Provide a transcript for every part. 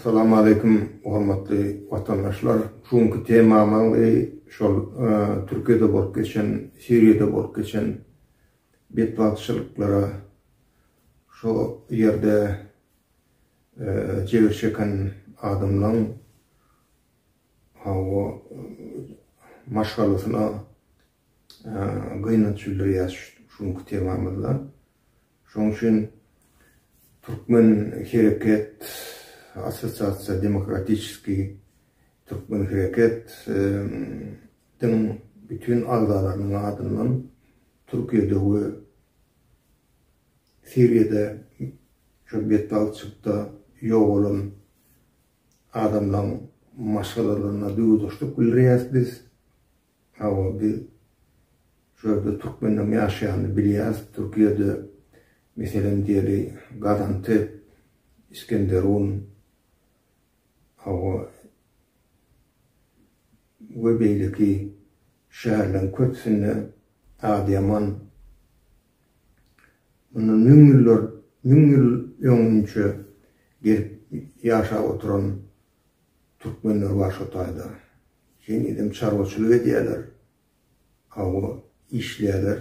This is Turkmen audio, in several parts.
Assalamu aleykum hormatly watandaşlar. Şu günki temamyň şol e, Türkiýede bolup geçen, Siriýada bolup geçen betbagtçylyklara şu ýerde Jebir çeken adamlaň hawa maşgalasyna gynanç bildirýäs şu günki temamyzda. Şoň üçin Türkmen hereket assosiasiýa demokratiçeski Türkmen hereket diň bütin agzalarynyň adyndan Türkiýede we Siriýada şol betbagtçylykda ýogalan adamlaryň maşgalalaryna duýgudaşlyk bildirýäris biz. Hawa, biz şu ýerde türkmenleriň ýaşaýanyny bilýäris. Türkiýede, meselem diýeli, Gazantep, Iskenderun, hawa, we beýleki şäherleriň köpüsinde, Adyýaman, Mundan müň ýyllar, müň ýyl öňünçe gelip ýaşap oturan türkmenler bar şo taýda. Henizem çarwaçylyk edýärler. Hawa, işleýärler.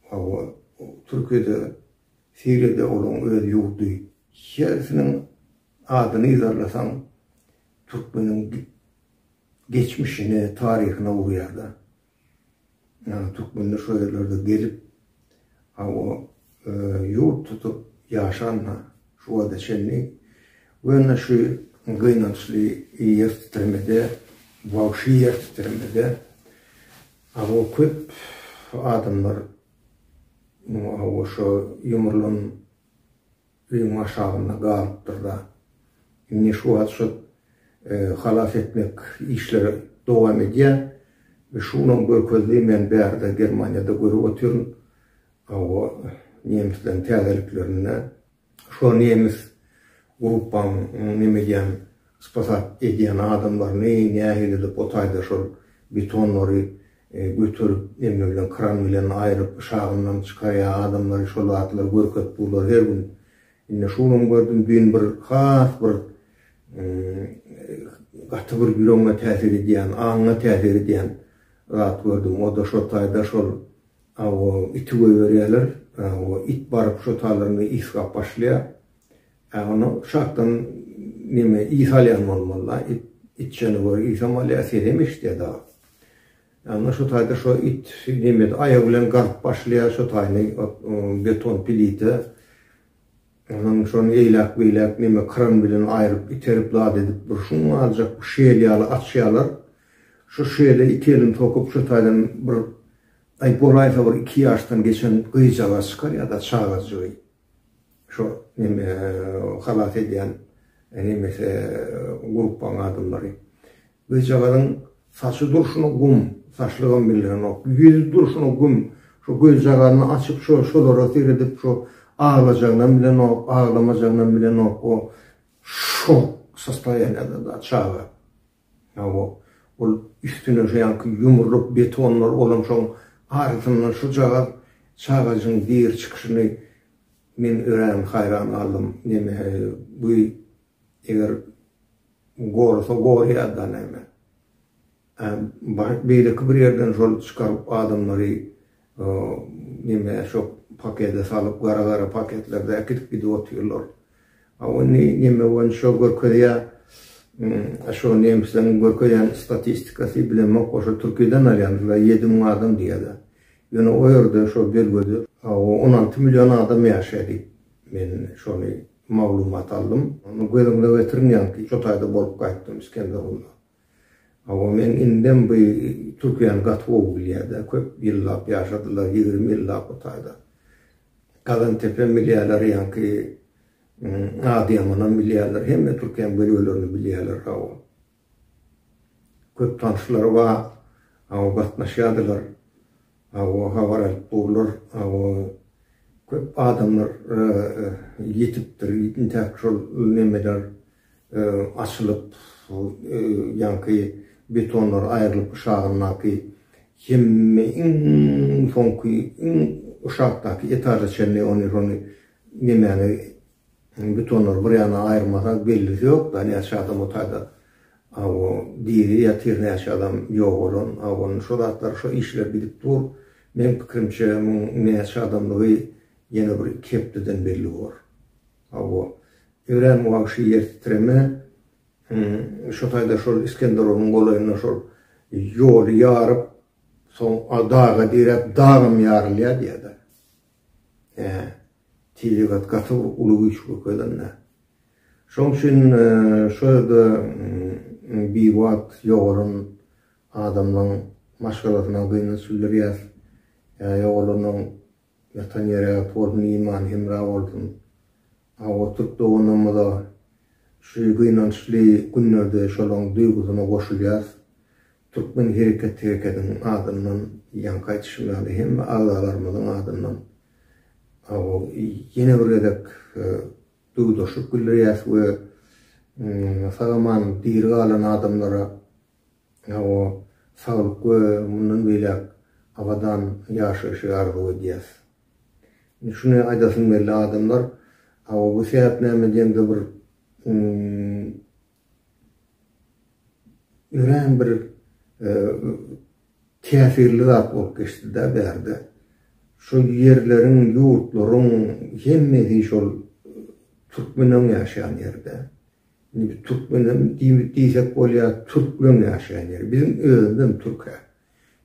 Hawa, Türkiýede, Siriýada olaň öz ýurdy. Hersiniň adyny yzarlasaň, türkmeniň geçmişine, taryhyna urýar-da. Ýagny türkmenler şo ýerlerde gelip, hawa, ýurt tutup ýaşan-ha şu wagta çenli we indi şu gynançly ýer titremede, wagşy ýer titremede, hawa, köp adamlar, hawa, şo ýumrulan, Öýüň aşagynda galypdyr-da. Indi şu wagt şol halas etmek işleri dowam edýär. We şu gün görkezdi, men bärde Germaniýada görüp otyryn. Hawa, nemisleriň täzeliklerinde şo nemis gruppanyň neme edýän, spasat edýän adamlaryny nähili edip o taýda şol betonlary göterip emmi bilen kran bilen aýryp yşagyndan çykarýa adamlary şol zatlary görkezip durlar her gün indi şu gün gördüm düýn bir has bir gaty bir ýüregiňe täsir edýän aňyňa täsir edýän zat gördüm o da şol taýda şol aw iti goýberýärler aw it baryp şo taýlarynda iskap başlaýa Ä onda şatdan neme ys alýan bolmalyda it içjene görä ysam alýa sesem eşidýä dagy. Ä onda şo taýda şo it nemede aýagy bilen gazyp başlaýa şo taýny ot beton pilite onuň şony eýläk beýläk neme kran bilen aýryp iterip zat edip bir şuň aljak bir şel ýaly açýalar şo şele iki elini sokup şo taýdan bir aý bolaýsa bir iki ýaşdan geçen gyjagaz çykarýada çagajygy. Şo neme halas edýän nemesi gruppaň adamlary. Gyzjagazyň saçy durşuna gum, saçlygam bildirenok. Ýüzi durşuna gum. Şo gözjagazyny açyp şo şolara seredip şo aglajagynam bilenok, aglamajagynam bilenok. O şok sostoýaniýada da çaga. Hawa, ol üstüne şu ýanky ýumrulyp betonlar bolan şoň arasyndan şujagaz çagajygyň diri çykyşyny men örän haýran galdym. Neme, bu eger gorasa gorýa-da näme. Ä, beýleki bir ýerden şol çykaryp adamlary Neme şo pakede salyp gara gara paketlerde äkidip gidip otyrlar. A ony neme boýunça şo görkezýä a şo nemisleriň görkezýän statistikasy bilemok o şo türkiden alýandylar ýedi müň adam diýýäler. Ýöne o ýerde şo belgede on alty million adam ýaşaýa diýip men şony maglumat aldym. Göz öňüne getiriň ýaňky şo taýda bolup gaýtdym Iskenderunda. Hawa men indem bu türkiýäni gaty gowy bilýäda köp ýyllap ýaşadylar ýigrimi ýyllap bu taýda Kazantepe bilýäler ýaňky Adyýamanam bilýäler hemme türkiýäň bölgelerini bilýäler hawa köp tanşlary ba hawa gatnaşýadylar hawa habar alyp durlar hawa köp adamlar ýetipdir intäk şol nemeler açylyp, ýaňky betonlar aýrylyp yşagyndaky hemme iň soňky iň yşakdaky etaža çenli ony şony nemäni betonlary bir ýana aýyrmasaň bellisi ýok da näçe adam otaýda awo diri ýatyr näçe adam ýok bolan awo şo zatlar şo işler gidip dur meň pikirimçe muň näçe adamdygy ýene bir iki hepdeden belli bor. Hawa, örän wagşy ýer titreme. Şu taýda şol Iskenderowyň golaýynda şol ýoly ýaryp, soň daga direp, dagam ýarylýar diýýärler. Hä, tebigat gaty bir uly güýç görkezende. Şoň üçin şu ýerde biwagt ýogalan adamlaryň maşgalasyna gynanç bildirýäs. Ýogalanyň Ýatan ýere ýat bolsun imany hemra bolsun. Awa türk doganymyza şu gynançly günlerde şolaň duýgusyna goşulýas. Türkmen hereket herekediň adyndan ýaňky aýtyşym ýaly hemme agzalarymyzyň adyndan awa ýene bir gezek duýgudaşlyk bildirýäs we sag aman diri galan adamlara Hawa, saglyk we mundan beýläk abadan ýaşaýşy arzuw edýäs. Indi şuny aýdasym geldi, adamlar hawa bu sähep näme diýende bir örän bir täsirli zat bolup geçdi-de bärde. Şu ýerleriň, ýurtlaryň hemmesi şol türkmeniň ýaşaýan ýeri-de. Indi türkmenem diýsek bolýa türkmen ýaşaýan ýeri. Biziň özümizem türke.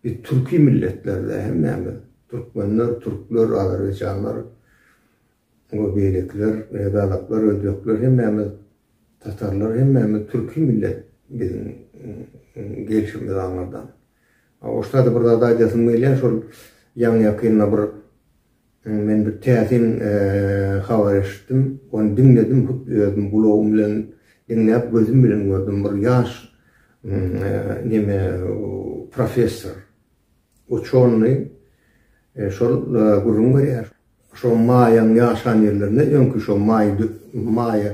Biz türki milletlerle hemmämiz türkmenler, türkler, azerbaýjanlar we beýlekiler, gazaklar, özbekler hemmämiz tatarlar hemmämiz türki millet biziň gelşimiz aňyrdan. Oşda-da bir zat aýdasym gelýär şol ýaňy ýakynda bir Men bir täsin habar eşitdim. Ony diňledim, hut özüm gulagym bilen diňläp, gözüm bilen gördüm. Bir ýaş neme professor, uçony şol gürrüň berýär. Şo maýaň ýaşan ýerlerinde öňki şo maý maýa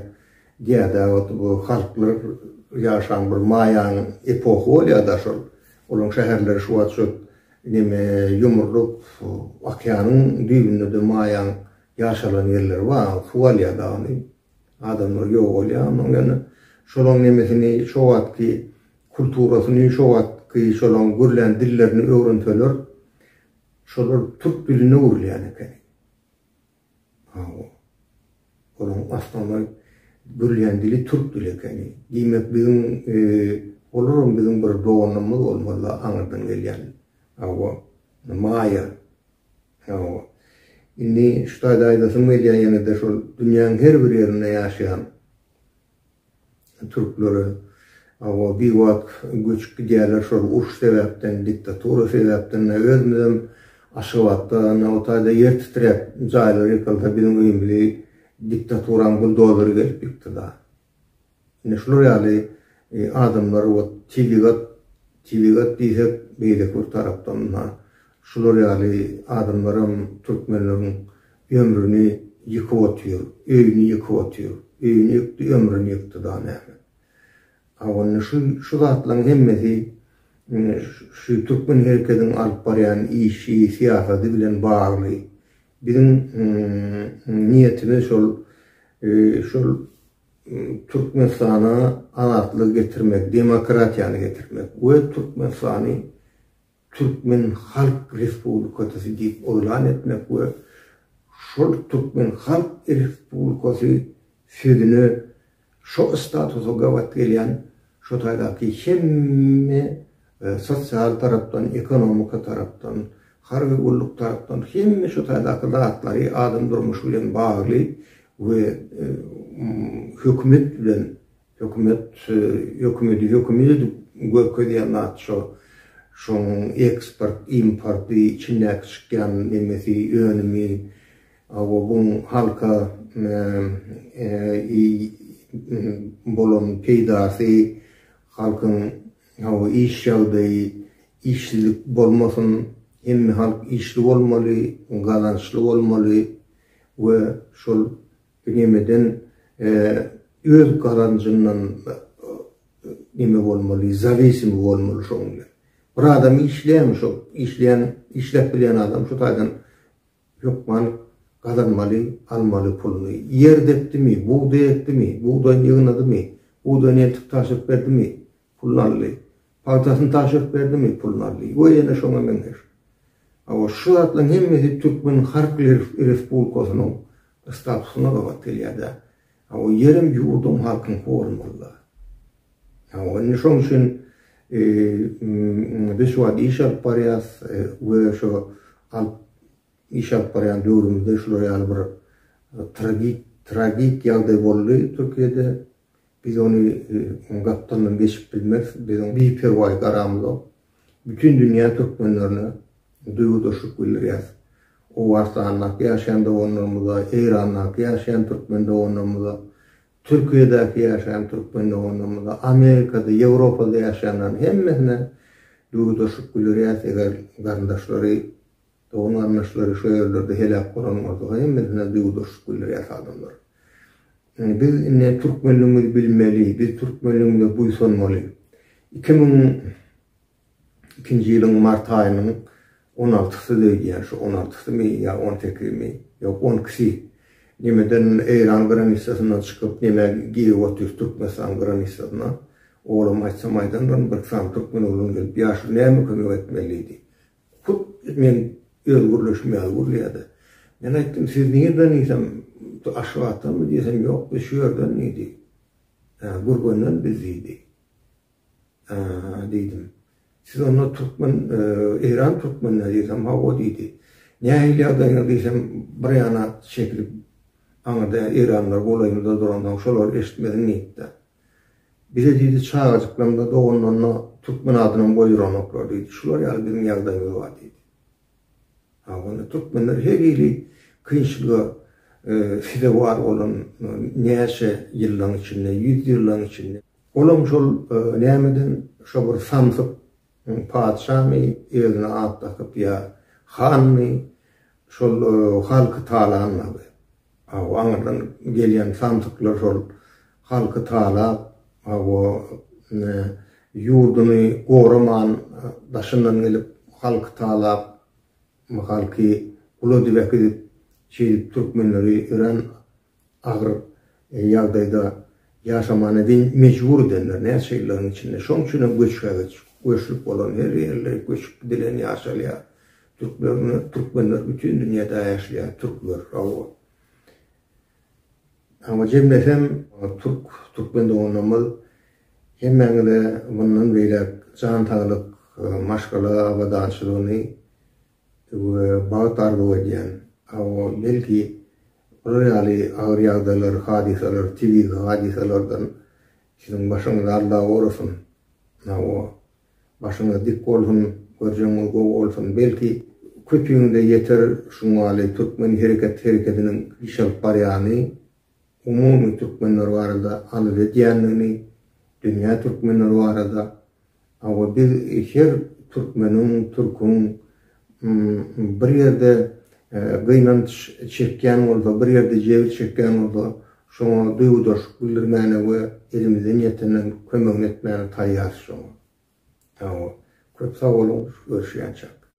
diýýärdi wagty bu halklar ýaşan bir maýanyň epohy bolýarda şol. Olaryň şäherleri şu wagt şo Ineme ýumrulyp, okeanyň düýbünde-de Maýaň ýaşalan ýerleri bar. Suw alýar dagyny. Adamlar ýogalýar. Onuň ýaly şolaň nemesini, şo wagtky kulturasyny, şo wagtky şolaň gürlän dillerini öwrenseler, şolar türk diline öwrülýän ekeni. Hawa. Olaryň başlanma gürlän dili türk dili ekeni. Diýmek, biziň, olaram biziň bir doganymyz bolmaly-la aňyrdan gelýän. Hawa. Maýa. Hawa. Indi şu taýda aýdasym gelýär ýene-de şol dünýäň her bir ýerinde ýaşaýan. Türklere awa biwagt göçüp gidýärler şol uruş sebäpden diktatura sebäpden özümizem Aşgabatda Nabataýda ýer titräp jaýlar ýykylsa biziň öýümizi diktaturaň buldozeri gelip ýykdyda ine şular ýaly adamlar ot tebigat tebigat diýsek beýleki bir tarapdan Şular ýaly adamlaram türkmenleriň ömrüni ýykyp otyr, öýüni ýykyp otyr. Öýüni ýykdy, ömrüni ýykdy da näme. A onda şu şu zatlaryň hemmesi şu türkmen herekediň alyp barýan işi, syýasady bilen bagly. Biziň niýetimiz şol şol Türkmenistana azatlygy getirmek, demokratiýany getirmek we Türkmenistany Türkmen Halk Respublikasy diýip yglan etmek we şol Türkmen Halk Respublikasy sözüne şo statusa gabat gelýän şo taýdaky hemme sosial tarapdan, ekonomika tarapdan, harby gulluk tarapdan hemme şo taýdaky zatlary adam durmuşy bilen bagly we hökümet bilen Hökümet hökümedi hökümet edip görkezýän zat şo. Şoň eksport importy içindäki çykýan nemesi önümi hawa buň halka bolan peýdasy halkyň hawa iş ýagdaýy işsizlik bolmasyn hemme halk işli bolmaly gazançly bolmaly we şol Nemeden öz gazanjyndan neme bolmaly, zawisimi bolmaly şoň bilen. Bir adam işleýärmi şo işleýän, işläp bilýän adam şu taýdan hökman gazanmaly, almaly puluny. Ýer depdimi, bugdaý ekdimi, bugdaýyny ýygnadymy, bugdaýyny eltip tabşyryp berdimi, Pul Nally pagtasyny tabşyryp berdimi? Pul Nally we ýene şoňa meňzeş. Hawa, şu zatlaryň hemmesi Türkmen Halk Respublikasynyň statusyna gabat gelýär-dä. Hawa, ýerem ýurdum halkyňky bolmaly-da. Hawa, indi şoň üçin biz şu wagt iş alyp barýarys we şu alyp iş alyp barýan döwrümizde şular ýaly bir tragik tragik ýagdaý boldy Türkiýede. Biz ony oň gapdalyndan geçip bilmeris, biz oň biperwaý garamyzok. Bütin dünýä türkmenlerine duýgudaşlyk bildirýäs. Owganystandaky ýaşaýan doganlarymyza, Eýrandaky ýaşaýan türkmen doganlarymyza, Türkiýedäki ýaşaýan türkmen doganlarymyza, Amerikada, Ýewropada ýaşaýanlaryň hemmesine duýgudaşlyk bildirýäs, eger garyndaşlary Dogan-garyndaşlary şo ýerlerde heläk bolanyňyzda hemmesine duýgudaşlyk bildirýäs adamlar. Biz indi türkmenligimizi bilmeli, biz türkmenligimize buýsanmaly. Iki müň ikinji ýylyň mart aýynyň on altysy öýdýän, şu on altysymy ýa on sekizimi, ýok on ikisi nemeden Eýran granisasyndan çykyp neme girip otyr Türkmenistan granisasyna. Oglam aýtsam aýdanlaryn bir sany türkmen oglan gelip ýaşuly näme kömek etmelidi. Hut men öz gürleşim ýaly gürleýärdi. Men aýtdym, Siz nirden diýsem, Aşgabatdanmy diýsem, Ýok, biz şu ýerden diýdi. Gürgenden biz diýdi. Aa diýdim. Siz onda türkmen, Eýran türkmenleri diýsem, Hawa diýdi. Nähili ýagdaýyňyz diýsem, bir ýana çekilip, aňyrda Eýranlar golaýymyzda duransoň, şolar eşitmesin diýipdi. Bize diýdi, çagajyklaňda, doganlanda türkmen adynam goýduranoklar diýdi. Şular ýaly biziň ýagdaýymyz bar diýdi. Ha, onda türkmenler her hili kynçylyga sezewar bolan näçe ýyllaň içinde, ýüz ýyllaň içinde. Olam şol nämeden, şo bir samsyk Oň patyşamy özüne at dakyp ýa hanmy şol halky talanmagy. Hawa aňyrdan gelýän samsyklar şol halky talap hawa ýurduny goraman daşyndan gelip halky talap halky gula dibek edip şeýdip türkmenleri örän agyr ýagdaýda ýaşamana diýen mejbur edenler näçe ýyllaryň içinde. Şoň üçin hem göçbe-göç, göçlük bolan her ýerler göçüp gidilen ýaşalýar. Türklerni, türkmenler bütin dünýäde ýaşlaýar, türkler, hawa. Emma jemlesem türk, türkmen doganlarymyz hemmäňize mundan beýläk jan saglyk, maşgala abadançylygyny, we bagt arzuw edýän. Hawa, belki, bular ýaly agyr ýagdaýlar, hadysalar, tebigy hadysalardan siziň başyňyz alda bolsun. Hawa, başyňyz dik bolsun, görjegiňiz gowy bolsun. Belki, köpüňize ýeter şuňaly türkmen hereket hereketiniň iş alyp barýany. umumy türkmenler barada arz edýändigini, dünýä türkmenleri barada, hawa biz her türkmeniň, türküň bir ýerde gynanç çekýän bolsa, bir ýerde jebir çekýän bolsa, şoňa duýgudaşlyk bildirmäne we elimizden ýetenden kömegini etmäne taýýarys şoňa. Hawa, köp sag boluň, görüşýänçäk.